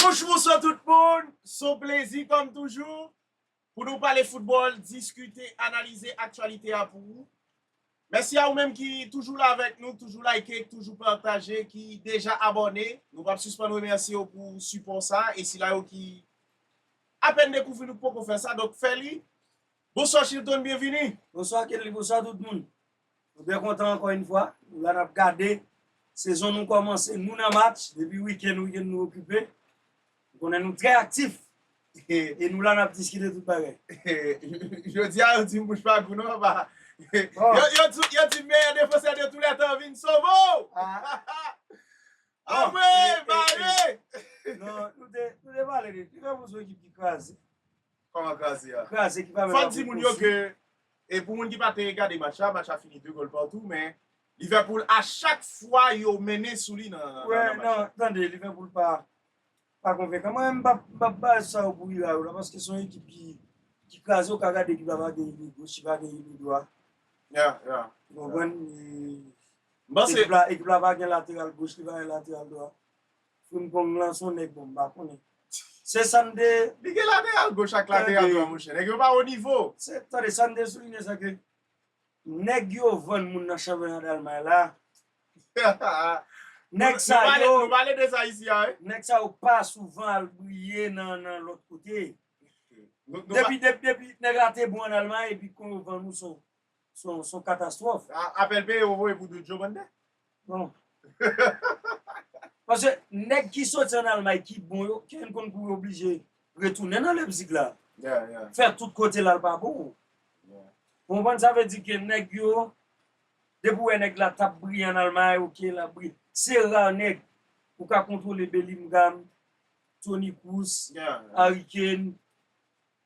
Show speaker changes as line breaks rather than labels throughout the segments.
Bonjou bonswa tout moun, son plezi kòm toujou pou nou pale foutbòl, diskite, analize aktyalite a pou ou. Mèsi a ou menm ki toujou la avèk nou, k toujou like, k toujou pataje, ki deja abòne. Nou pap sispann remèsye ou pou sipò sa e sila yo ki apèn dekouvri nou k poko fè sa, donk fè li. Bonswa Chilton byenvini. Bonswa Kenly bonswa
tout moun nou byen kontan ankò yn fwa nou la nap gade sezon nou kòmanse nou nan match depi wikenn wikenn nou okipe ou konnen nou trè aktif e nou la nap diskite tout bagay.
Jodia yo dim bouch pa gou non papa yo dim meyè defansè de tou lè tan vin sove w anmweyy bare. Non
nou te pale de li li fè moun son ekip ki kraze. Kòman
kraze ya? Kraze ki pa menm Fòk di moun
yo ke
e pou moun ki pa te gade match la, match la fini 2 gòl partout men Liverpool a chak fwa yo mennen sou li nan match la. Wè nan tande
Liverpool pa pa konvenkan mwen menm m'pap m'pap ba sa yo pou ira yo la paske son ekip ki ki kraze ou ka gade ekip la pa gen iliy goch li pa gen iliy dwa Ya
ya ou konprann
li
M'panse ekip la ekip la pa gen lateral
goch li pa gen lateral dwa. Frimpong lan son nèg bon m pa konnen se san m te. Li gen lateral
goch ak lateral dwa monchè nèg yo pa wo nivo. Tande sa m te
soulinye se ke nèg yo vann moun nan chanpyona dalmay la nèg sa yo Nou pale de sa isi a
wi. Nèg sa yo pa
souvan al briye nan lòt kote depi nèg la te bon an dalmay epi kon yo vann ou son Son katastrof. Apel peye ou voye
pou doudjo bande. Bon.
Paske neg ki soti an almay ki bon yo knn konn pou yo oblije retounen nan Leipzig la. Yeah yeah. Fè tout
kote lal
pa bon. Yeah. Ou konprann sa vle di ke neg yo depi ou wè neg la tap briye an almay ok lap briye. Se ra neg ou ka kontwole Bellingham, Toni Kroos, Harry Kane.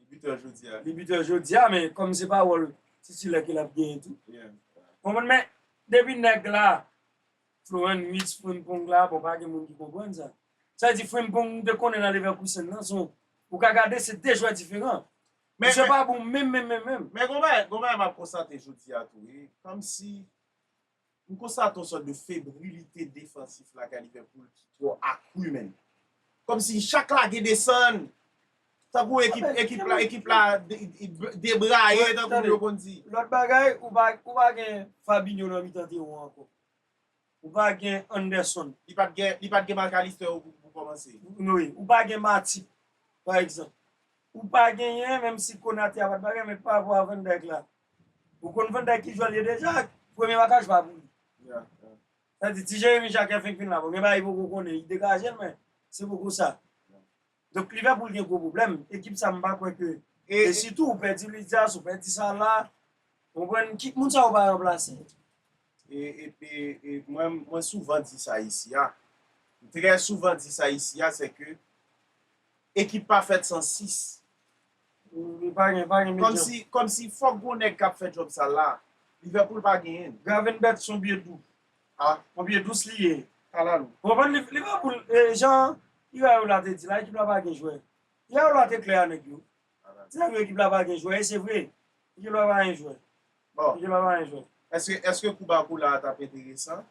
Li bitè jodi a. Li bitè jodi a men kòm se pa wòl titilè ke lap genyen tou. Konprann men depi nèg la Floren Witz Frimpong la bon pa gen moun ki konprann sa. Sa vle di Frimpong nou te konnen nan Leverkusen nan son ou ka gade se 2 jwè diferan. Misye pa bon menm menm menm menm. Men gon bagay,
gon bagay map konstate jodi a tou wi. Kòm si M konstate yon sòt de febrilite defansif lakay Liverpool ki twò akru menn. Kòmsi chak lage desann, tankou ekip la debraye tankou yo konn di. Lòt bagay,
ou pa gen Fabinho nan mitan teren w ankò. Ou pa gen Anderson. Li pa t
gen Mac Allister ou pou kòmanse. Wi. Ou pa gen
Matip, pa egzanp. Ou pa genyen, menm si Konate a pa t bagay, men parapò a Van Dijk la. Ou konn Van Dijk ki jwè l ye deja ak premye makaj pa pou li. Sa vle di ti Jeremi Jake fenk fin la bon gen bagay li poko konnen li degaje l men se poko sa. Donk Liverpool gen gwo pwoblèm, ekip sa m pa kwè ke e sitou ou pèdi Luis Diaz, ou pèdi Salah ou konprann ki moun sa yo va ranplase? E
mwen souvan di sa isi a, m trè souvan di sa isi a se ke ekip pa fèt san 6. Komsi fok gon neg kap fe job sal la. Liverpool pa genyen. Gravenberch son bye
dou. Ah on bye dous li ye kalalou. Ou konprann
Liverpool
jan Iraola te di la ekip la pa gen jwè. Iraola te klè a nèg yo. Li te di nèg yo ekip la pa gen jwè e se vre. Ekip la pa gen jwè. Bon, Yo pa bay anyen
fè.
èske, èske kou ba
kou la a t ap enteresan?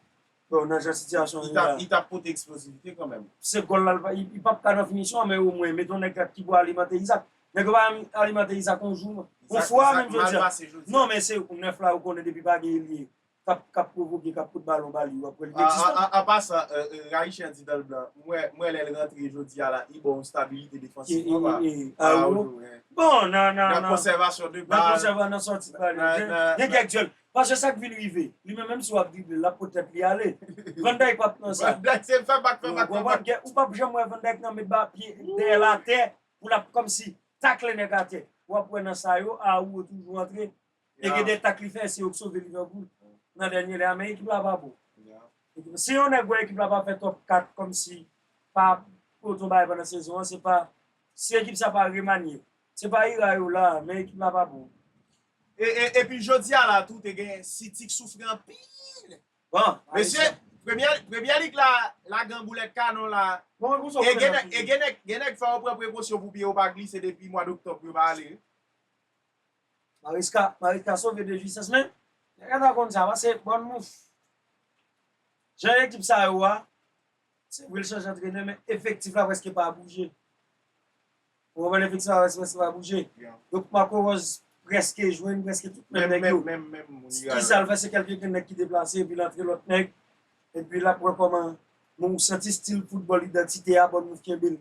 Bon, nan jan
sitiyasyon an Li ye t la ap, a. li t ap pote
eksplozivite kanmenm. Se gòl la, li pa, li
pap ka nan finisyon an, men omwen, meton nèg la ki pou alimante Izaak. Nèg yo pa menm alimante Izaak on jou, on fwa menm jodi a. Izaak, Izaak mal pase jodi a. Non, men se 9 la ou konnen depi pa gen elye k ap, k ap pwovoke, k ap koud balon ba li, ou ap kwè li inekzistan. A, a, a pa sa,
Rayichè di Danlblan, m wè, m wè lè l rantre jodi a la, li ba w on stabilite defansif konpa. E, e, e, a
ou. Bon, nan, nan, nan. Nan
konsèvasyon de bal. Nan konsèvasyon, nan sòti de bal.
Nan, nan. Gen kèk dyòl. Paske sa k vin rive, li menm, menm si w ap drible l, l ap pot tèt li ale. Van Dijk pa p nan sa. Van Dijk se fè bak, fè
bak, fè bak. Ou pa p janm
wè Van Dijk nan met ba pye dèyè l atè pou l ap kòmsi takle nèg atè. W ap wè nan sa yo, a ou yo toujou antre, E gen de tak li fè se yo k sove Liverpool nan dènye lè a men ekip la pa bon. Si yon nèg wè ekip la pa fè top 4 kòmsi pa pot yon bagay pandan sezon an se pa si ekip sa pa remanye. Se pa ira yo la men ekip la pa bon.
Epi jodi a la tou te gen City k soufri anpil. Mesye premyè lig la la gen boulèt kanon la e gen nèg fè yo pran prekosyon pou pye yo pa glise depi mwad oktòb yo pa ale. Mariska
Mariska sove de jisans men nèg la ta konn sa pase bon mouch jan ekip sa yo a se vre l chanje antrenè men efektif la prèske pa bouje ou konprann efektif la prèske pa bouje donk Marco Rose prèske jwenn prèske tout menm nèg yo
ki sa l fè
se kèlke grenn nèg ki deplase epi l antre lòt nèg epi l ap wè kòman men ou santi stil foutbòl idantite a bon mouch kenbe l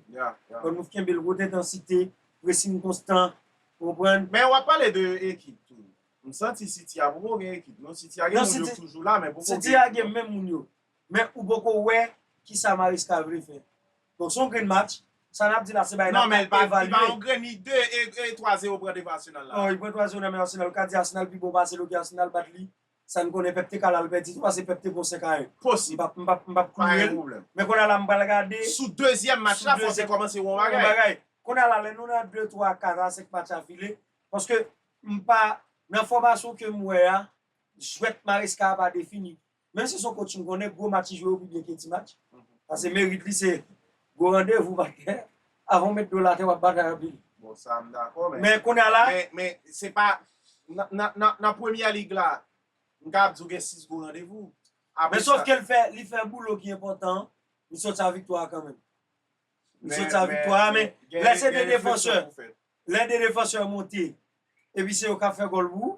bon mouch kenbe l wot entansite presin konstan Ou konprann? Men wap pale de
ekip tou. M santi city a poko gen ekip non. City a gen moun yo k toujou la men poko gen ekip non. City a gen menm moun
yo. Men ou poko wè kisa Maresca vle fè. Donk son grenn match. Sa nap di la se bagay nap ka evalye. Non men li pa yon
grenn li 2 e 3 zero pran devan Arsenal la. Non li pran 3 zero nan men Arsenal.
Ou ka di Arsenal pi bon pase l ok Arsenal bat li. Sa n konnen pèp te ka la l pèdi tou pase pèp te gon 5 a 1. Posib. M p ap m
p ap klou
el. Men konn a la m pral gade. Sou dezyèm match
la fò te kòmanse wè yon bagay. Konn a la lè nou nan
2, 3, 4 a 5 match afile. Paske m pa nan fòmasyon ke m wè a jwèt Maresca a pa defini. Menm si se yon kotch m konnen gwo match li jwe yo pi byen ke ti match. Pase merit li se gwo randevou pa tè. Avan w met do la tè wap batay anpil. Bon sa m dakò
men. Men kounya la.
Men se pa
nan premyè lig la m kapab di w gen 6 gwo randevou. Men sof ke
li fè boulot ki enpòtan an, li sòti ak viktwa a kanmenm. Li sòti ak viktwa a men lè se 2 defansè, lè 2 defansè monte epi se yo kap fè gòl pou ou.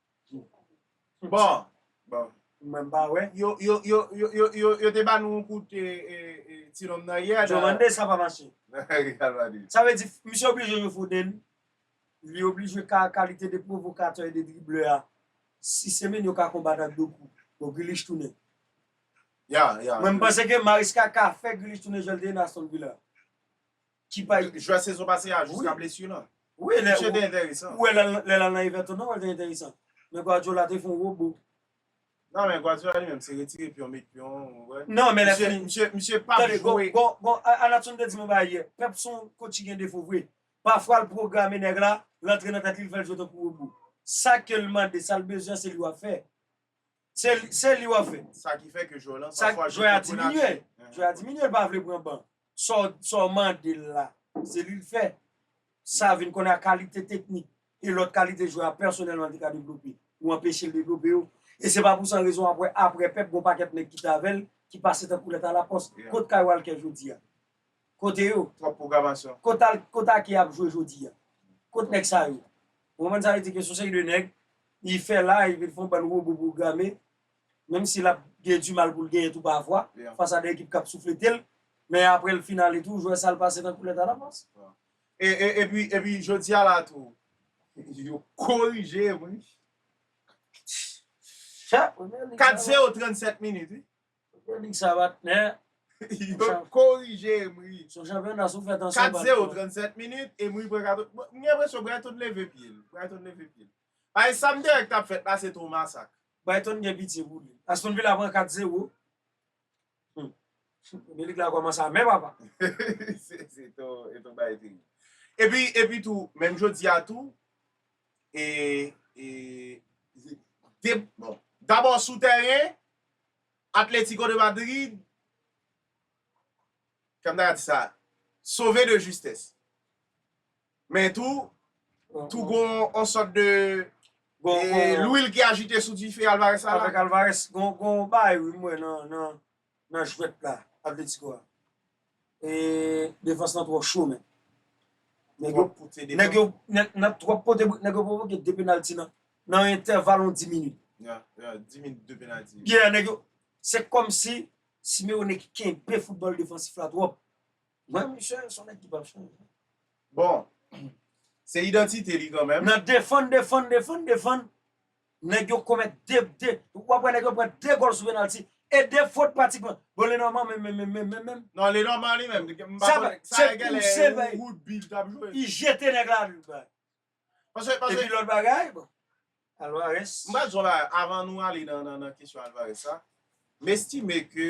Bon, mwen m
pa wè.
Yo te ba nou yon kout ti nonm nan yè. Joe Van Ness la pa mache.
Sa vle di misye oblije jwe Foden, li oblije ka kalite de pwovokatè e de driblè a. Si Semenyo ka konbat ak Doku, bon Grealish tounen. Mwen m panse ke Maresca ka fè Grealish tounen jan l te ye nan Aston Villa. Ki pa jwè sezon pase a
jiska blesu lan. Wi lè Misye te
enteresan.
Ou wè lè lè lal nan
Everton nan wèl te enteresan. Men Guardiola te fon robo. Nan men
Guardiola li menm se retire pyon met pyon ou wè. Nan men lè fini. Misye
misye pap jwe. Tande
gon gon gon Anatson
te di m yon bagay yè. Pep son coach ki gen defo vre. Pafwa l pwograme nèg la, l antre nan tèt li l fèl jwe tankou robo. Sa kel mande, sal bezwen se li wap fè. Se li wap fè. Sa ki fè ke jwè lan
pa fwa jwè a diminye.
Jwè a diminye li pa vle pran ban. Sa w mande l la, se li l fè. Sa vin konnen a kalite teknik e lòt kalite jwè a pèsonèlman li te ka devlope. Ou anpeche l devlope yo. E se pa pou san rezon wap wè aprè Pep gon pakèt nèg ki t avè l ki pase tankou lèt alapòs. Kot Kay Walker jodi a? Kote yo? Trop programasyon. Kot
al kot ake
ap jwe jodi a? Kot nèg sa yo? Ou konprann sa vle di ke son seri de nèg li fè la epi li fè yon bann wobo pwograme menm si lap gen di mal poul genyen tou pa vwa fas a de ekip kap soufletel men aprè li fin ale tou jwè sal pase tankou lèt alavans. Epi
epi jodi a la tou yo korije wi. Kat zero 37 minit wi. Konik sa pa
tnè. Yo t
korije Emery. Son chanpyona sou fè
tansyon bat kò. 4-0 37
minit Emery pran katon bon m gen enpresyon Brighton leve pye l Brighton leve pye l paske sa m te wè k tap fèt la se twò masak. Brighton gen pitye
pou li. Aston Villa pran 4 0 Humm Milik la kòmanse a men papa. Se
ton bagay terib. Epi epi tou menm jodi a tou e e bon dabò sou tèren Atlético de Madrid kòm ta di sa sove de justès men tou tou gon yon sòt de lwil ki ajite sou dife Alvarez sa la. Avèk Alvarez gon
bagay wi m wè nan jwèt la Atlético a. E defans lan twò cho menn. Nèg yo pote de. Nèg yo nan twòp pote bout nèg yo pwovoke 2 penalty nan nan entèval yon 10 minit. Ya, ya 10 minit
2 penalty. Ya nèg yo
se kòmsi Simeone ki kenbe foutbòl defansif la twòp. Mwen misye se yon nèg ki pap chanje. Bon,
se idantite li kanmenm. Nan defann, defann,
defann, defann. Nèg yo komèt 2 2 w ap wè nèg yo pran 2 gòl sou penalti e 2 fot pratikman. Bon Lenormand menm menm menm menm menm menm. Non Lenormand li
menm m pa konnen sa a gen lè
se pou Woodby li t ap jwe.
Li jete nèg la li
bay. Pase
pase. Epi lòt
bagay bon Alvarez. M pral di w yon bagay
avan nou ale nan kesyon Alvarez sa. M estime ke.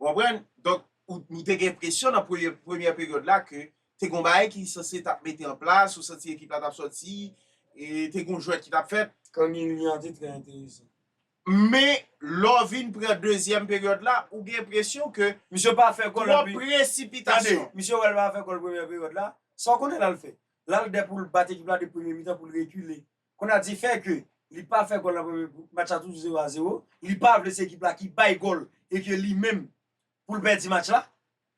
Ou konprann? Donk, ou, nou te gen enpresyon nan premye, premyè peryòd la ke te gen yon bagay ki sanse t ap mete an plas, ou santi ekip la t ap sòti, e te gen yon jwèt ki t ap fèt. Kangin Lee an te trè
enteresan. Men,
lè w vin pran dezyèm peryòd la, ou gen enpresyon ke Misye pa fè gòl epi. Twòp
presipitasyon.
Tande, misye wè l pa fè
gòl premyè peryòd la, sa w konnen l al fè? L al dè pou l bat ekip la depi premye mitan pou l rekile. Konnya di fè ke li pa fè gòl nan premye match la toujou 0 a 0, li pa vle se ekip la ki bay gòl e ke li menm poul pèdi match la.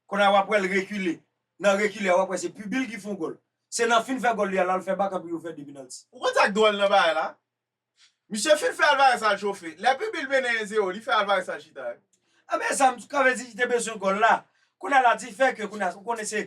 Konnya wap wèl rekile, nan rekile a wap wè se pubil ki fon gòl. Se nan fin fè gòl li a lal fè bak anpi yo fè 2 penalty. Ou konn sak dwòl nan bagay
la? Misye fin fè Alvarez al chofe. Lè pubil mennen 1 0 li fè Alvarez al chita. Ebyen sa m t
ka vle di li te bezwen gòl la. Konnya la di fè ke konnya ou konnen se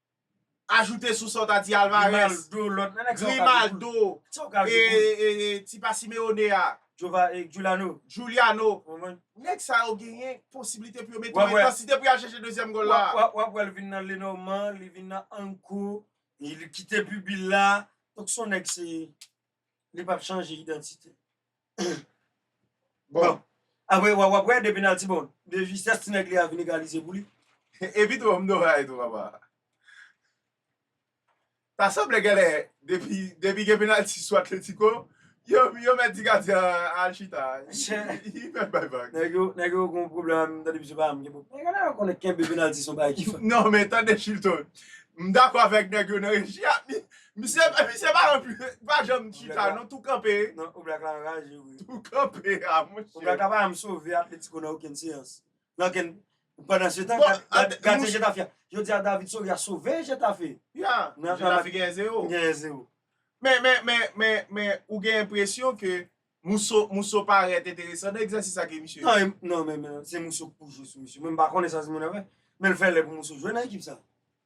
Ajoute sou sa w ta di Alvarez, Grimaldo, tipa Simeone a, Juliano, nèg sa yo genyen posibilite pou yo mete yon entansite pou y al chèche dezyèm gòl la. Wap wè wè li vin nan
Lenormand, li vin nan Ankou, li kite Bubi la, donk son nèg se Li pap chanje idantite. Bon. Apre wa wap wè de penalty bon. De justesse ti nèg li a vin egalize pou li. Epi tou m
dora etou papa. Ta sanble genlè depi gen penalty sou Atletico yo mèt di gadyen an al chita. Li mèt bay vag. Nèg yo gon
pwoblèm avèm tande misye pa janm gen pwoblèm. Nèg la konnen kenbe penalty son bagay ki fèt. Non men tande Chilton.
M dakò avèk nèg yo nan reji a. Misye misye pa nan pu pa janm chita non tou kanpe. Non Oblak la anraje
wi. Tou kanpe a
monche. Oblak la pa janm sove
Atletico nan okenn seyans. Nan okenn Pandansetan gad gardyen Getafe a. Jodi a David Soria sove Getafe. Ya
Getafe genyen 0. Genyen 0.
Men men men men
men ou gen enpresyon ke Mousso Mousso parèt enteresan nan egzèsis sa ke misye. Non non men men
se Mousso ki pou jwe sou misye. Mwen m pa konnen sa Simeone ap fè. Men l fè lè pou Mousso jwe nan ekip sa.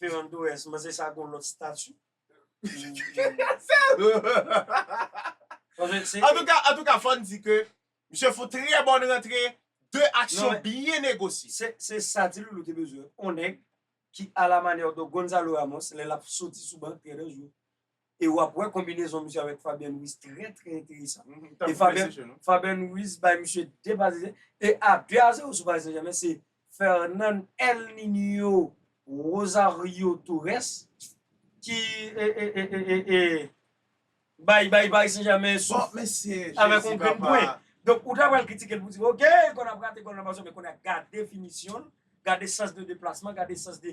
Ferran Torres manze sa gon lot stati.
Antouka fòn di ke misye fon trè bòn rantre 2 aksyon byen negosye. Se sa Ti Loulou
te bezwen, on nèg ki a la manière de Gonzalo Ramos lè lap soti sou ban trè danjre. E wap wè konbinezon misye avèk Fabien Louis trè trè enteresan. E Fabien Louis bay misye 2 Parisien e a 2 a 0 sou Paris Saint-Germain se Fernan El Niño Rosario Torres ki e bay Paris Saint-Germain souf avèk yon grenn pwen. Donk ou ta pral kritike l pou di ok li konn ap rate gòl nan Barcelone men kounye a gade finisyonl, gade sans de deplasman, gade sans de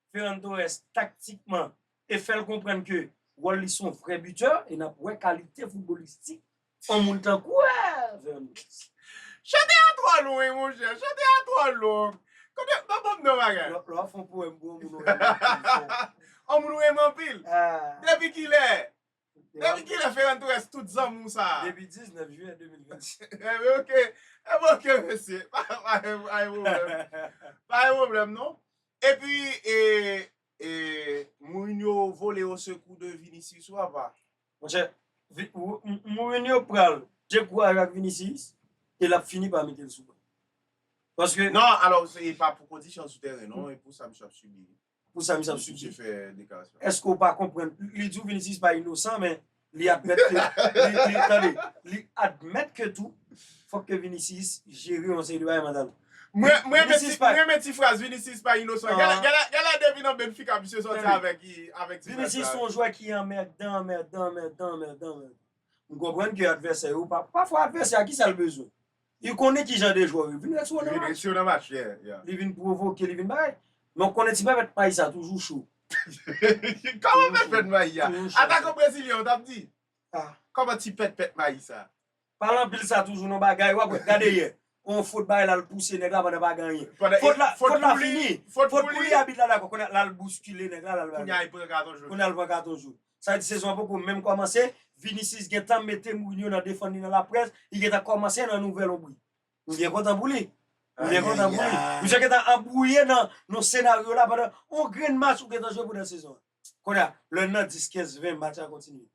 Ferran Torres taktikman e fè l konprann ke wòl li se yon vrè bitè e n ap wè kalite foutbolistik yon moun tankou Ferran Torres. Chante
a twò lwen monchè, chante a twò long. Kote, pa banm non bagay. Lè wap fè yon powèm pou yon
moun ou renmen anpil
fòk. Yon moun ou renmen anpil? Depi kilè? Depi kilè Ferran Torres tout zanmou sa a? Depi 19 jiyè 2025.
Enben ok, enben
ok mesye, pa gen pwoblèm, pa gen pwoblèm non. Epi e Mourinho vole osekou de Vinicius ou apa? Monchè,
Mourinho pral dekouraje ak Vinicius e l ap fini pa mete l sou ban. Paske. Non, alò
se pa
pou
kondisyon sou tèren non, e pou sa misye ap sibi. pou sa misye ap
sibi.
Eske ou pa konprann,
li di w Vinicius pa inosan men li admèt ke, li tande, li admèt ke tou fòk ke Vinicius jere yon seri de bagay mantal. Mwen
renmen ti fraz Vinicius pa inosan. Gen lè depi nan Benfica misye sòti avèk ti fraz sa. Vinicius se yon
jwè ki anmèdan, anmèdan, anmèdan, anmèdan, anmèdan. M konprann ke advèsè yo, pafwa advèsè a kisa l bezwen? Li konnen ki jan de jwè yo. Vin mèt yo nan match. Li mèt yo nan match, yeah. Li vin pwovoke, li vin bay. Men ou konnen ti pèpèt mayi sa toujou cho.
Kòman pèpèt mayi a? Atakan brezilyen ou tap di? Ah. Kòman
ti pètpèt
mayi sa? Pale anpil sa
toujou nan bagay. Wap wè, gade yè. On fot bay la, l pouse nèg la pandan pa gen anyen. Fot la, fot la fini. Fot pou li. Fot pou li, abit la dakò. Kounye a, la l bouskile nèg la, la l. Kounye a li pran katon joun.
Kounye
a
li pran katon joun.
Sa vle di sezon an poko menm kòmanse, Vinicius gentan mete Mourinho nan defann li nan laprès, li gentan kòmanse nan nouvè lonbri. M byen kontan pou li. M byen kontan pou li. Misye gentan anbwouye nan yon senaryo la pandan yon grenn match ou gentan jwe pandan sezon an. Kounye a, lè l nan 10, 15, 20 match a kontinye.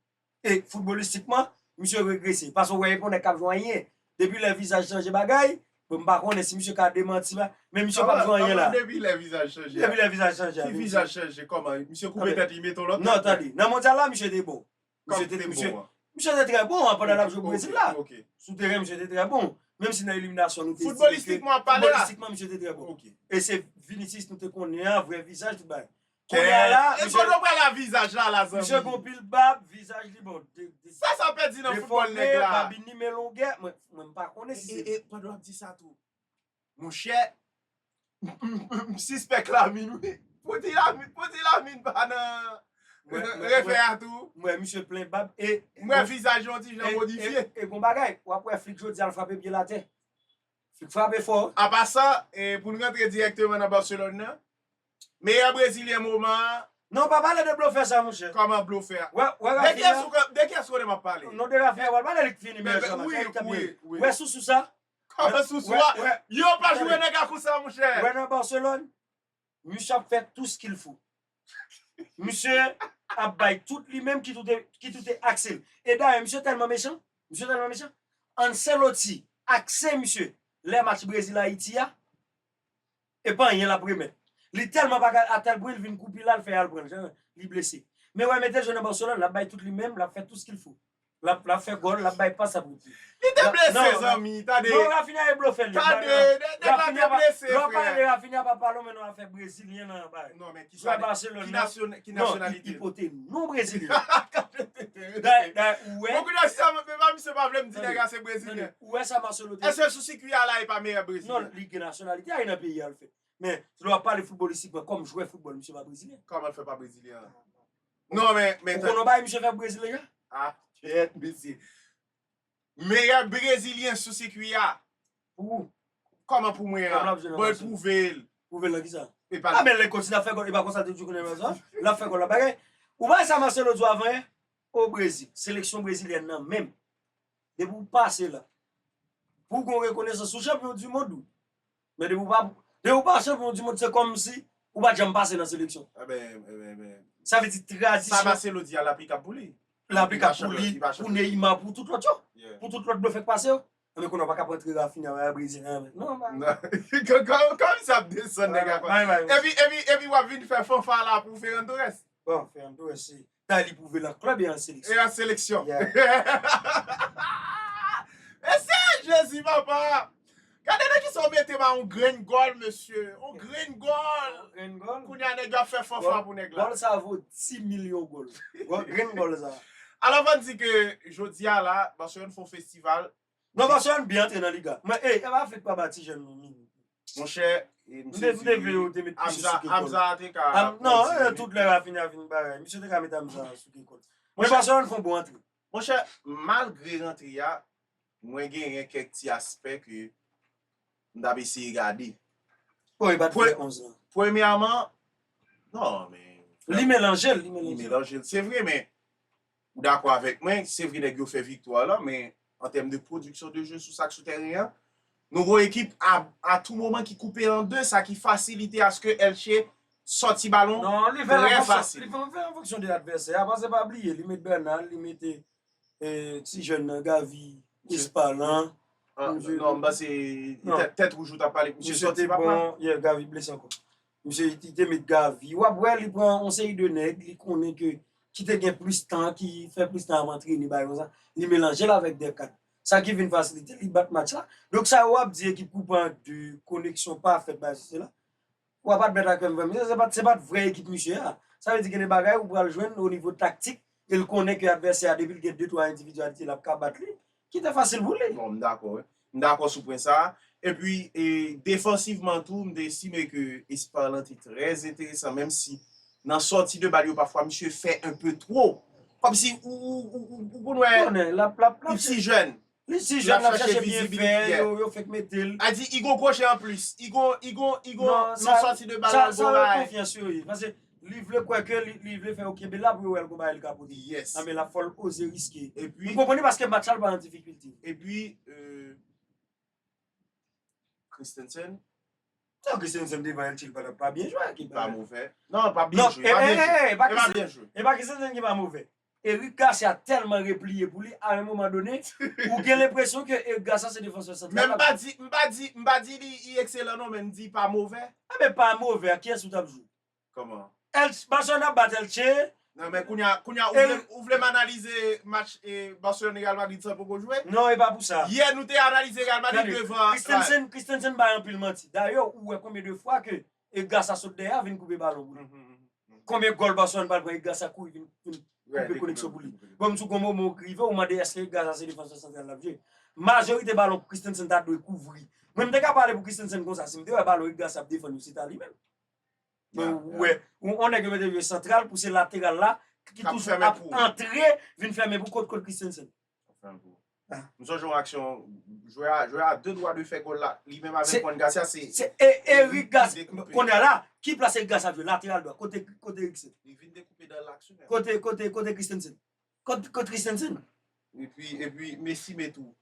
E foutbolistikman, misye regrese. Pase w wè e pa yon nèg k ap jwe anyen. Depi lè vizaj chanje bagay, bon m pa konnen si misye ka demanti ba, men misye pap jwenn anyen la. Kòman depi lè vizaj chanje
a? Depi lè vizaj chanje a? Ki
vizaj chanje kòman?
Misye koupe tèt li mete yon lòt tèt? Non tande, nan mondyal la
misye te bon. Kòman li te bon an? Misye te trè bon an pandan l ap jwe pou Brezil la. Ok. Sou teren misye te trè bon. Menm si nan eliminasyon nou te di misye. Foutbolistikman w ap pale la?
Foutbolistikman misye te
trè bon. Ok. E se Vinicius nou te konnen an, vrè vizaj tout bagay. Kounya la E
kote w pral a vizaj la la zanmi. Misye gon pil bab,
vizaj li bon. Sa sa pèdi
nan foutbòl nèg la. Defòme, babin li men longè,
mwen m pa konnen si. E e pandan w ap di sa tou.
Monchè, m sispèk Lamine wi. Pou di Lamine, pou di Lamine pa nan refè a tou. M wè misye plen bab
e. M wè vizaj yon ti
jan modifye. E gon bagay, w ap
wè Flick jodi a l frape pye l atè. Flick frape fò. Apa sa,
pou n rantre dirèkteman nan Barcelone nan. Meyè brezilyen moman an. Non pa pale
de blofè sa monchè. Kòman blofè a. Wè
wè rafia. De ki escroc map pale. Non de rafia wal pale li k
fini meyè sa. Wi wi
wi. Wè sousou sa.
Kòman sousou
a. Yo pa jwe nèg a konsa monchè. Wè nan Barcelone
misye ap fè tout ce qu'il faut. Misye ap bay tout li menm ki toute ki toute aksel. E dayè misye tèlman mechan misye tèlman mechan Ancelotti akse misye lè match Brésil Haïti a. E pa anyen lap remèt. Li telman pa ka atel bri li vin kou pila li fè al pran jan li blese. Men wè mete jeu nan Barcelone lap bay tout li menm lap fè tout ce qu'il faut. Lap lap fè gòl lap bay pas ap rete. Li te blese zanmi tande.
Non Raphinha e blofè li. Tande nèg la te blese
frè. Lè wap
pale de Raphinha pa
pale w men non afè brezilyen nan bagay. Non men kisa ki
nasyon ki nasyonalite.
Non
li pote non
brezilyen. Kanpe tenten. Dayè dayè
ou wè. Bon kounya si sa vle misye pa vle m di nèg la se brezilyen. Ou wè sa Marcelo te.
Eske sou sikwi a la
e pa meyè brezilyen? Non, li gen nasyonalite a
e nan peyi a l fèt. Men, lè w ap pale foutbolistikman kòm jwè foutbòl misye pa brezilyen. Kòman l fè pa brezilyen?
Non men, men tande. Ou konn yon bagay misye fè pou
Brezil deja? Ah kyèt
mesye. Meyè brezilyen sou sikwi a. Pou ou?
Kòman pou
mwen an? Bon e pwouve l. Pwouve l nan kisa?
E pa. Ah men lè l kontinye ap
fè gòl e
pa konsa l te toujou konn fè gòl? Lè ap fè gòl l ap bagay. Ou pa wè sa Marcelo di w avan yè? O Brezil, seleksyon brezilyen nan menm. Depi ou pase la. Pou w gen yon rekonesans ou chanpyon du mond ou. Men depi ou pa depi ou pa chanpyon du mond se kòmsi ou pat janm pase nan seleksyon. Enben
enben. Sa vle di
tradisyon. Sa Marcelo di a
l
aplikab
pou li. L aplikab pou li,
pou Neymar, pou tout lòt yo. Pou tout lòt blofè k pase yo. Enben kounye an w pa ka pran tre Raphinha wè Brezilyen an menm non bagay.
Kòmsi ap desann nèg la konsa. Epi epi epi w ap vin fè fanfara pou Ferran Torres. Bon Ferran Torres
se. Tay li pwouve l an klèb e an seleksyon. E an seleksyon.
Mesi Jezi papa. Gade nan kisa w mete m a yon grenn gòl mesye. Yon grenn gòl. Yon grenn gòl. Kounye a
nèg yo ap fè
fanfan pou nèg la. Gòl sa vo 10
milyon gòl. Grenn gòl sa. Alò fò n di ke
jodi a la Barcelone fè yon festival. Non paske ann byen
antre nan liga. Men ey epa fek pa ba ti jèn nou min. Monchè
mte vle
yo te met misye
sou kekòl. Amza te ka Non e tout lè
Raphinha vin bagay. Misye te ka met Amza sou kekòl. Men Barcelone fon bon antre. Monchè
malgre rantre a mwen genyen kèk ti aspè ke mtap eseye gade. Bon epat
fè 11 lan. Premyèman non
men. Li melanjel
li melanjel. Li melanjel se
vre men Ou dakò avèk mwen, se vre nèg yo fè viktwa la, men an tèm de pwodiksyon de jeu sou sa k sou tèren an, nou gon ekip a tou moman ki koupe an 2, sa ki fasilite aske Elche sòti balon trè fasil. Non, li
fè
an fonksyon de
advèsè a, paske pa bliye li met Bernal, li mete ti jèn nan Gavi, Ispa lan. Non,
m panse tèt wouj ou t ap pale, misye sòti pa pran. Misye te bon,
yeah, Gavi blese ankò. Misye li te met gavi. Wap wè li pran yon seri de nèg li konnen ke ki te gen plis tan, ki fè plis tan ap antrene bagay konsa, li melanje l avèk de kad. Sa ki vin fasilite li bat match la. Donk sa yo ap di ekip koupe an 2, koneksyon pa fèt bagay sesi sela. Wap admèt avèk mwen mesye se pat se pat vrè ekip misye a. Sa vle di gen de bagay ou pral jwenn o nivo taktik e l konnen ke advèsè a depi l gen 2, 3 endividyalite lap ka bat li. Ki te fasil pou li. Bon, m dakò wi. M
dakò sou pwen sa a. Epi, defansivman tou, m te estime ke Espar lan te trè enteresan, menm si nan sòti de bal yo pafwa misye fè enpe two. Kòm si ou konn wè li t si jèn. Li t si jèn, l ap chache
byen fè, yo fèk mete l. A di, i gon kwochè
anplis. I gon, i gon, i gon nan sòti de bal lan, gon bagay. Sa yo konfyans yo ye.
Pase, Li vle kwè ke li vle fè yo kenbe la pou yo wè l konba e li ka pote. Yes. Anben la fòl
oze
riske. Epi. Ou konprann li paske
match la l pa nan
difikilte. Epi
euh Christensen. Tan
Christensen devan el chil patap pa byen jwe ak
ekip la. Li pa move. Non li pa byen jwe. Non e e e. Li pa byen jwe. E pa Christensen ki pa move.
Eric Garcia tèlman repliye pou li a yon moman done ou gen lenpresyon ke Eric Garcia se defansè santral la. Men m pa di, m pa di,
m pa di li ekselan non men m di pa move. Anben pa move
ak kiyès ou tap jwe?
Barcelone ap
bat Elche. Nan men kounya
kounya ou vle m analize match Barcelone Real Madrid san poko jwe? Non e pa pou sa. Yè
nou te analize Real
Madrid devan. Christensen Christensen bay anpil
manti. Dayè ou wè konbyen de fwa ke Edgar sa sot dèyè a vin koupe balon pou li. Konbyen gòl Barcelone pral pran Edgar sa kouri vin koupe koneksyon pou li. Bon m di w gon moman ou k rive ou mande èske Edgar sa se defansè santral l ap jwe. Majorite balon Christensen ta dwe kouvri. Mwen m te ka pale pou Christensen konsa si m te wè balon Edgar sa ap defann yo se ta li menm. Ou wè, on nèg yo mete jwe santral pou se lateral la ki toujou ap antre vin fèmen pou kot Christensen.
M sonje yon aksyon, jwè a, jwè a de dwa de fè gòl la, li menm avèk Juan Garcia se. Se Eric Garcia,
konye la, ki plas Eric Garcia ap jwe? Lateral dwa, kote Eric se? Li vin dekoupe dan
laks ou menm. Kote, kote, kote
Christensen? Kot kot christensen. Epi
epi Messi met ou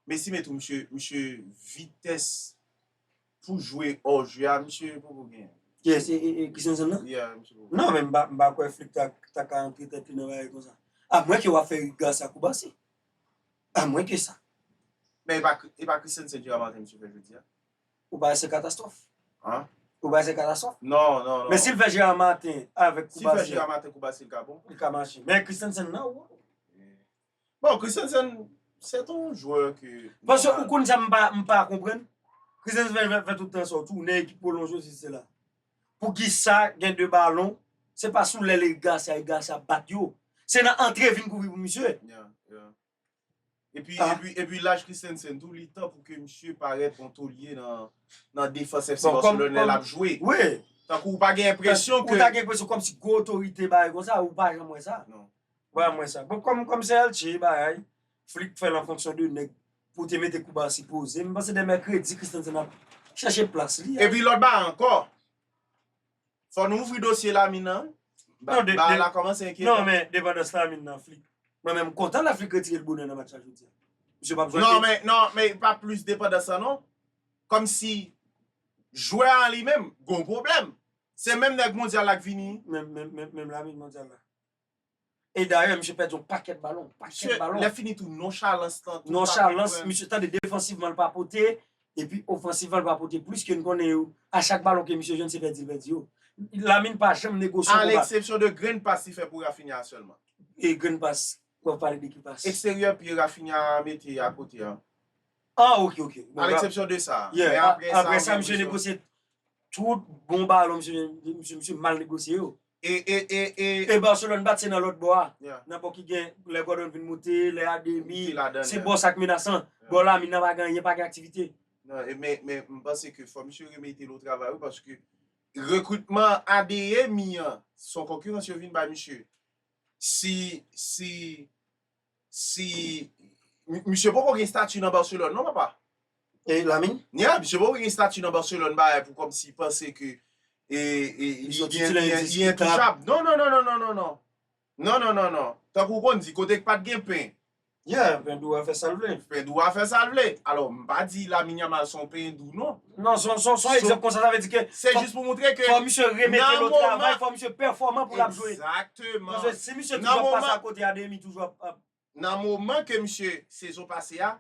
Messi met ou misye misye vitès pou jwe hors jeu a misye poko genyen. Yes e e
christensen nan? Yeah misye poko genyen. Non men m pa
m pa kwè
Flick ta ta ka antre tèt li nan bagay konsa. A mwen ke wap fè Rick Garcia kou Barsi. A mwen ke sa. Men e pa
e pa christensen Gérard Martin misye fè jodi a? Ou bay se
katastrof. An? Ou
bay se katastrof.
Non, non, non. Men sil fè
Gerard
Martin avèk Koubasia. Sil fè Gerard Martin
Koubasia li ka bon? Li ka mache. Men Christensen
nan ou.
Bon, Christensen se ton jwè ke. Paske ou konn sa m pa,
m pa konprann. Christensen fè tout tan sa ou tou ne ekip pwolonje si se la. Pou ki sa gen 2 balon, se pa sou lèl Eric Garcia, Eric Garcia bat yo. Se nan antre vin kouvri pou misye. Yeah, yeah.
Epi laj Christensen tou li tan pou ke misye parèt an tolye nan defans FC Barcelone lè lap jwe. Tankou ou
pa gen
enpresyon ke... Ou ta gen enpresyon kòm si gwo
otorite bagay kon sa, ou pa janm wè sa. Non. Ou pa janm wè
sa. Bon,
kòm se Elche bagay, Flick fè l an fonksyon de nèg pou te mete kou Barsi poze. M panse de mèkredi Christensen ap chèche plas li. Epi lòt bagay ankò,
Fò nou ouvri dosye Lamine nan wi. Bar la kòmanse enkyetan. Non men depandans Lamine
nan flick. Mwen menm kontan laflick retire l bonè nan match la jodi a. Misye pap jwe anpil. Non men
non men e pa plis depandans lan non. Kòmsi jwè a li menm gon pwoblèm. Se menm nèg mondyal la k vini. Menm menm menm Lamine
mondyal la. E dayè misye pèdi yon pakèt balon, pakèt balon. Misye lè fini tou
nonchalans lan tou. Nonchalans,
misye tande defansivman l pa pote, epi ofansivman l pa pote plis ke n konnen yo. A chak balon ke misye jwenn se pèdi l pèdi yo. Lamine pa janm negosye konba. A leksepsyon de grenn
pas li fè pou Raphinha a sèlman. E grenn pas? Ou ap
pale de ki
pas?
Eksteryè
pye
Raphinha a
mete
a
kote
a. Ah ok ok. A leksepsyon de sa.
Yeah. Aprè sa misye
negosye tout bon balon misye jwenn, misye mal negosye yo. E e e e. E Barcelone bat se nan lòt bò a. Yeah. Nan bò ki gen
lè
Gordon vin moute, lè Ademi. Moute ladan l, Se yeah. bò sa k
menasan. Yeah.
Bò Lamine nan pa gen anyen, pa gen aktivite. Non, e men men
m panse ke fò misye remete l o travay wi paske rekritman Adeyemi an son konkirans yo vin bay misye. Si si si misye poko gen stati nan Barcelone non papa. E Lamine?
Yeah, misye poko gen stati
nan Barcelone bagay pou kòmsi panse ke li entouchab. Non non non non non non. Non non non non. Tankou ou konn di kote k pat gen pen. Yeah, pen dou
a fè sa l vle. Pen dou a fè sa l vle.
Alò m pa di Lamine Yamal son pen dou non. Non, son
egzanp konsa sa vle di ke fò misye remete lòt
travay,
fò misye pèfòman pou l ap jwe. Egzakteman. Paske si
misye toujou
ap pase akote a Demi toujou ap. Nan moman
ke misye sezon pase a,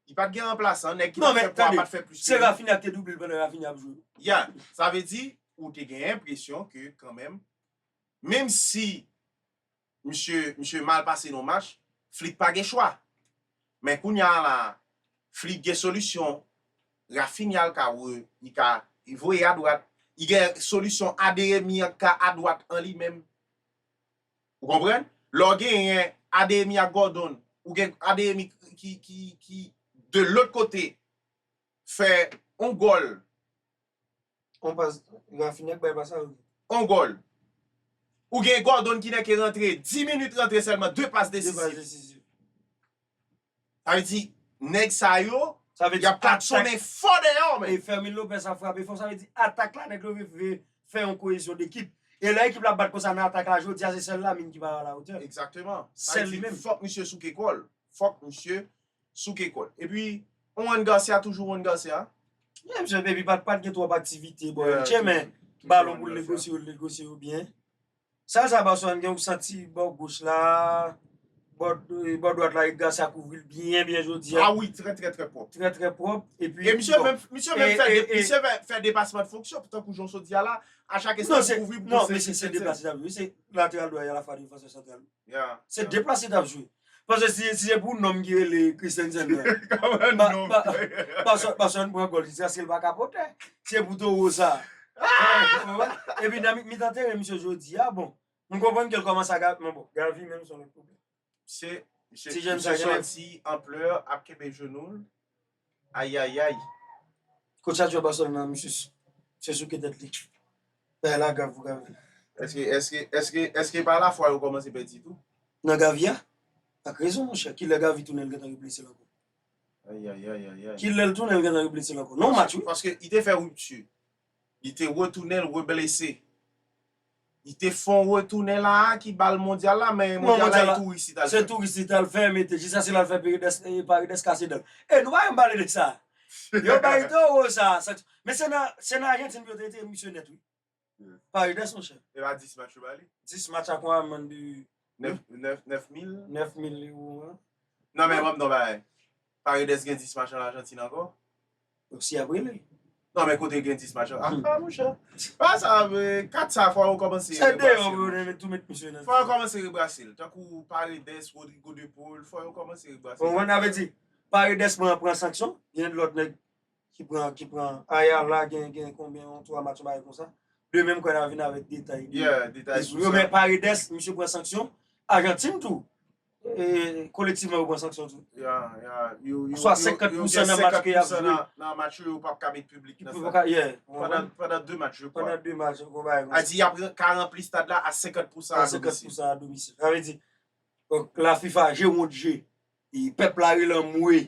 li pa t gen ranplasan, nèg ki t ap fè pwa a pa t fè plis ke li. Non men tande,
se Rafinha ki te double l pandan Rafinha ap jwe. Ya, sa vle di
ou te gen enpresyon ke kanmenm, menm si Misye misye mal pase nan match, Flick pa gen chwa. Men kounya la a, Flick gen solisyon, Raphinha l ka re li ka li voye adwat, li gen solisyon Adeyemi an k ka adwat an li menm. Ou konprann? Lè w genyen Adeyemi ak Gordon, ou gen Adeyemi ki ki ki de lòt kote fè yon gòl
On pas rafinè k bay pa sa yo. On gòl.
Ou gen Gordon ki nèke rantre 10 minit rantre sèlman 2 pas desizif. 2 pas desizif. Sa vle di nèg sa yo yap klaksone fò deyò men. E Fermin Lopez ap frape
fò sa vle di atak la nèg yo rive fè yon koyezyon dekip. E lè ekip la ap bat konsa nan atak la jodi a se sèl Lamine ki pa a la otè. Ekzakteman. Sèl
li menm. Fòk
misye souke kò l.
Fòk misye souke kòd. Epi Juan Garcia toujou Juan Garcia. Li menm jan epi
pat gen twòp aktivite bò yo tchè men balon pou l negosye yo, l negosye yo byen. Sal sa Barcelone gen ou santi bò goch la, bò dwat la Eric Garcia kouvri l byen byen jodi a. A wi trè trè trè
pwòp. Trè trè pwòp epi.
E misye menm, misye menm
fè, misye fè depasman de fonksyon tankou jan w sot di a la, a chak espas kouvri pou l. Non men se se depasman,
se lateral dwat e alafwa defansè santral. Se de plas li tap jwe. Paske si se pou nonm ki rele Christensen nan. Kòman nonm. Paske an pran gòl. Jiskaske l pa ka potè. Se pou towo sa. E pi nan mitan teren misye jodi a bon. M konprann ke l kòmanse a gate. Men bon Gavi menm son lòt pwoblèm.
Ti jèn sa genlè. Misye santi anplè a ap kenbe jenou l. Ayayayy
kot sa jwè Barcelone nan misye se souke tèt li bagay la grav pou Gavi. Eske eske eske
eske epa la fwa yo komanse pèdi tou. Nan Gavi a?
Ak rezon monchè, kilè Gavi tounen l gentan reblese l ankò? Ayayayayayy.
Kilè l tounen
l gentan reblese l ankò? Non match wi. Paske li te fè rupture.
Li te retounen l reblese. Li te fon retounen la a ki bal mondyal la men mondyal la e touris li t al fè. Se touris li t al fè
mete jis ase l al fè paridès kase dan l. E nou pa janm pale de sa. Yo bay towo sa sanksyon. Men se nan se nan Ajantin pou yo te retire misye nèt wi. Paridès monchè. E pa 10 match yo ba
li? 10 match a konn amenn
bi 9 9 9000 9000
liwo
an. Non men wap non
bay. Paredes gen 10 match an Argentine anko. Donk si yap
rele. Non men kote
gen 10 match an. A pa mon chè. Pa sa ve 4 sa fwa ou komanse. Se de yo pou yo
tou met misye nan. Fwa yo komanse rebrase
l. Tankou Paredes, Rodrigo de Paul. Fwa yo komanse rebrase l. Ou konprann sa ve di.
Paredes pran pran sanksyon. Gen lot neg. ki pran ki pran aya la gen gen konbyen yon 3 match yon bagay konsa de menm kwen ap vin avèk detay de sou yo men
paredes
misye pran sanksyon ajantin tou kolektivman yo pran sanksyon tou yo gen 50% nan match ke yap jwe nan match yo yo pap
ka met publik nan sa
pandan 2 match yo pandan
2 match yo konbay
a di yap
ka ranpli stad la a 50% a domisil a 50% a domisil sa vle di
la fifa je wont je pèp la relan mwe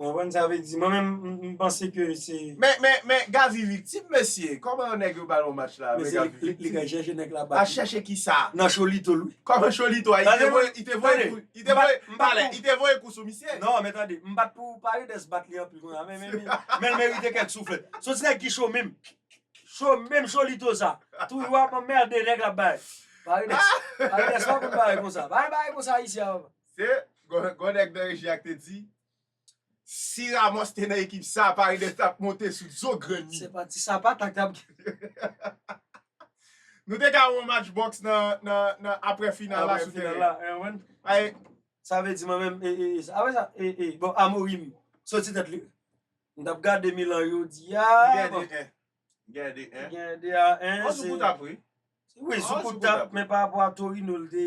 Ou konprann sa vle
di? Mwen menm m panse ke se. Men men men Gavi
viktim mesye, kòman yon nèg yo bal yon match la men Gavi viktim. Li ka
chèche nèg la bal. Al chèche kisa?
Nan cholito l wi.
Kòman cholito a? Tande
mwen, li te voye kou, li te voye, m pa lè, li te voye kou sou misye. Non men tande, m pat
pou pale de sbat li anpil kounye a men men men l merite kèk souflèt. Son ti nèg ki cho menm, cho menm cholito sa, toujou ap anmerde nèg l ap bay. Paredes, Paredes pa konn bagay konsa. Pa gen bagay konsa isi a papa. Se
Gwo nèg nan reji a ki te di, Si Ramos te nan ekip sa a, Paredes t ap monte sou do grenn li. Se pa ti sapata k
t ap gen.
Nou te ka wè yon match bòks nan aprè final la sou teren an. Sa vle di mwen
menm, apre sa, bon Amorim soti tèt li. M t ap gade Milan jodi a. Li genyen 2-1. Li
genyen 2 a 1. An
sou kout ap wi.
Wi sou kout
ap men parapò a Torino l te.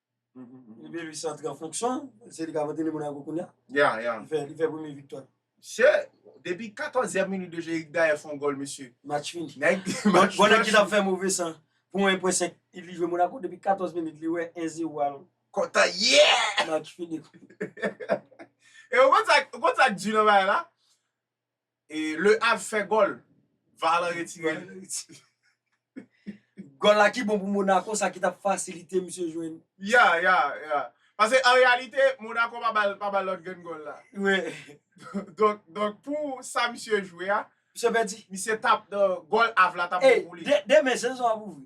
Ribery se antre an fonksyon, se li k ap antrene Monako kounya. Ya, ya. Li fè,
li fè premye viktwa.
Mesye, depi
14 èm minit deja Eric Daer fè yon gòl mesye. Match fini. Nèg, match
fini. Gòl ekip la
fè
move san. Pou 1 pwen 5, li jwe Monako depi 14 minit li wè 1 zero al. Kontan,
yeah! Match fini. E ou konn sa, ou konn sa k di nan bagay la? Le Havre fè gòl, var lan retire l.
Gòl la ki bon pou Monaco sa ki tap fasilite misye jwenn. Ya, ya, ya.
Pase an reyalite Monaco pa bal pa bal lòt grenn gòl la. Wi.
Donk,
donk pou sa misye jwe a. Misye pèdi. Misye
tap
gòl Havre la tap bon pou li. Demen sezon an ap ouvri.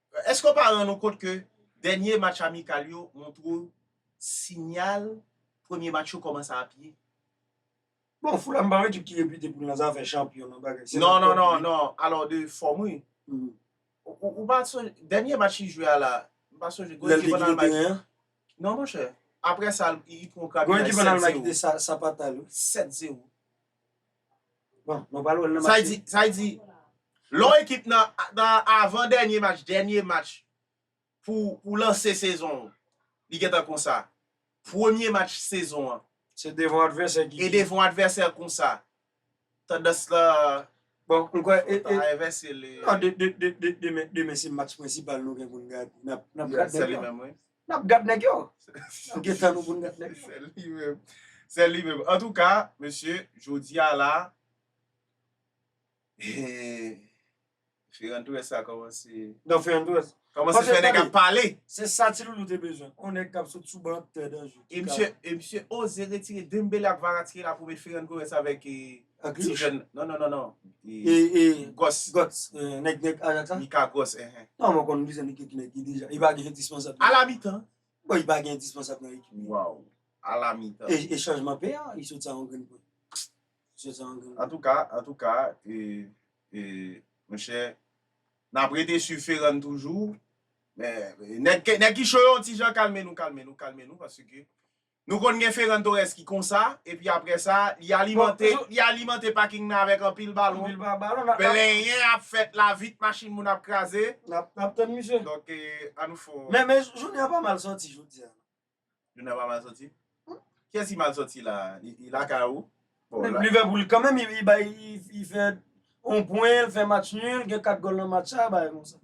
Èske w pa rann ou kont ke dènye match amikal yo montre w sinyal premye match yo kòmanse ap ye?
Bon, Fulham pa yon ekip ki repite pou l nan zafè chanpyon, nan bagay, se nan kòb li. Non,
alò de fòm wi. Ou pa sonje, dènye match li jwe a la, m pa sonje, gwo ekip an Almay. Lè l te kite teren an? Non monchè, aprè sa li pran yon krabinaj 7 zewo. Gwo ekip an Almay ki te
sapata l wi. 7 zewo. Sa y di,
lè yon ekip nan avan dènye match, dènye match pou lanse sezon an, li gen tan konsa. Premye match sezon an, e
devan advèsè konsa,
tandans la ta
envèse. Demen se match prensipal nou gen pou n gade.
Nap gad nèg yo. Nap gen tan nou poun gad nèg yo. Sèl li menm. Sèl li menm. Antouka mesye jodi a la Hee Ferran Torres sa kòmanse Non Ferran Torres
Kòmanse fè nèg ap
pale. Se sa ti loulou te
bezwen. On nèg kap sot sou ban tè danje.
E misye oze retire Dembele ak Kvaratskhelia pou met Ferran Torres avèk Agliouch? Non, non, non, non. E,
Gòs. Gòs.
Nèg
Ajax la? Mika Gòs, ehe.
Nan mwen konn plis nèg
ki nan ekip deja. Li pa gen endispansab nan ekip. Ala mitan?
Bon, li pa gen endispansab
nan ekip. Waww. Ala
mitan. E chanjman pè a?
Li sot sa yon grenn pwen. Li sot sa yon grenn
pwen. Antouka, antouka, e, e, mwen chè, nan prete su Ferran toujou. Men, nèg ki cho yo yon ti jan kalme nou, kalme nou, kalme nou, paske, Nou konn gen Ferran Torres ki konsa, epi aprè sa, li alimante, li alimante paking nan avèk anpil balon. Anpil ba balon. Plenyen ap fèt la, vit machin moun ap kraze. N ap, n ap tann misye.
Donk, an
nou fon. Men, men jounen an pa mal
soti jodi a. Jounen an pa
mal soti? Kiyès ki mal soti la a? Li, li lakay ou? Liverpool
kanmenm li bay, li fè yon pwen, li fè match nul, gen 4 gòl nan match sa, bagay konsa.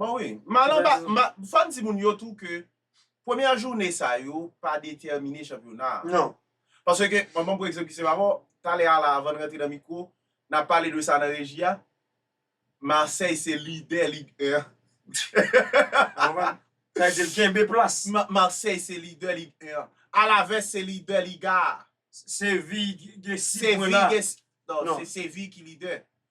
Bon wi, mal
anba, fò n di moun yo tou ke premyè joune sa yo pa detèmine chanpyona a. Non. Paske,
mwen ban
pou egzanp ki se pa bon, talè a la avan n rantre nan mikwo, n ap pale de sa nan reji a, Marseille se lidè Ligue 1. Ou konprann?
Sa vle di l kenbe plas. Marseille se lidè
Ligue 1. Alaves se lidè Liga a. Séville
gen 6 pwen la. Séville gen, non, se
Séville ki lidè.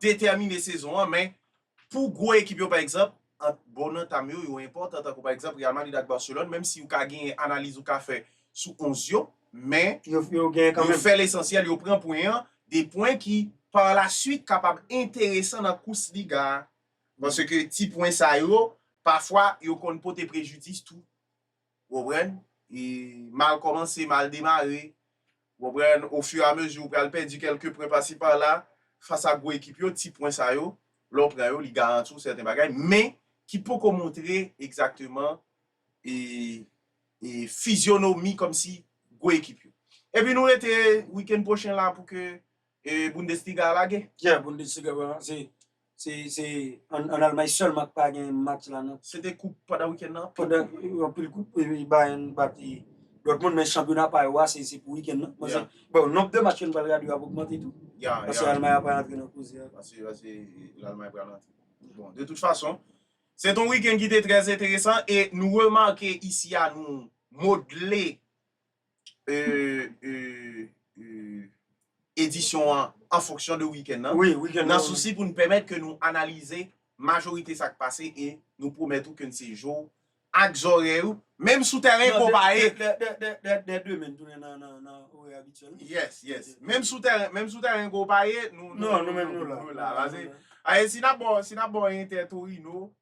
detèmine sezon an men pou gwo ekip yo pa egzanp ant bon anta m yo yo enpòtan tankou pa egzanp Real Madrid ak Barcelone menm si ou ka genyen analiz ou ka fè sou 11 yo men yo
fè lesansyèl yo
pran pwen an 2 pwen ki par la swit kapab enteresan nan kous liga a paske ti pwen sa yo pafwa yo konn pote prejidis tou. Ou konprann? E mal kòmanse, mal demare. Ou konprann? O fur et à mesure ou pral pèdi kèlke pwen pasi pala, fas a gwo ekip yo, ti pwen sa yo, lè ou pran yo, li garanti ou sèten bagay, men ki poko montre egzakteman e e fizyonomi kòmsi gwo ekip yo. Epi nou rete wikenn pwochen la pou ke E Bundesliga a lage? Yeah, Bundesliga a
lage. Se an Almay sèlman ki pa gen match la non. Se te koup pandan
wikenn nan? Pandan anpil koup,
epi Bayern bat Dortmund, men chanpyona pa yo a se pou wikenn nan. Mwen se, bon, nonb de match ke nou pral gade yo ap ogmante tou. Yeah, yeah. Paske Almay a pral antre nan koze a. Paske
Almay pral antre. Bon, de tout fason, se te yon wikenn ki te trè enteresan e nou remake isi a nou modle edisyon an an fonksyon de wikèn nan. Wi, wikèn nan. Nan sousi
pou n pèmèt
ke nou analize majorite sa k pase e nou pwomèt ou ke n se je w ak zòrèy ou, menm sou tèren konpaye. Dè demen
n tounen nan orè abityèl nou. Yes, yes.
Menm sou tèren, menm sou tèren konpaye, nou menm nou la.
Pase, si n ap
ba w, si n ap ba w entè Torino.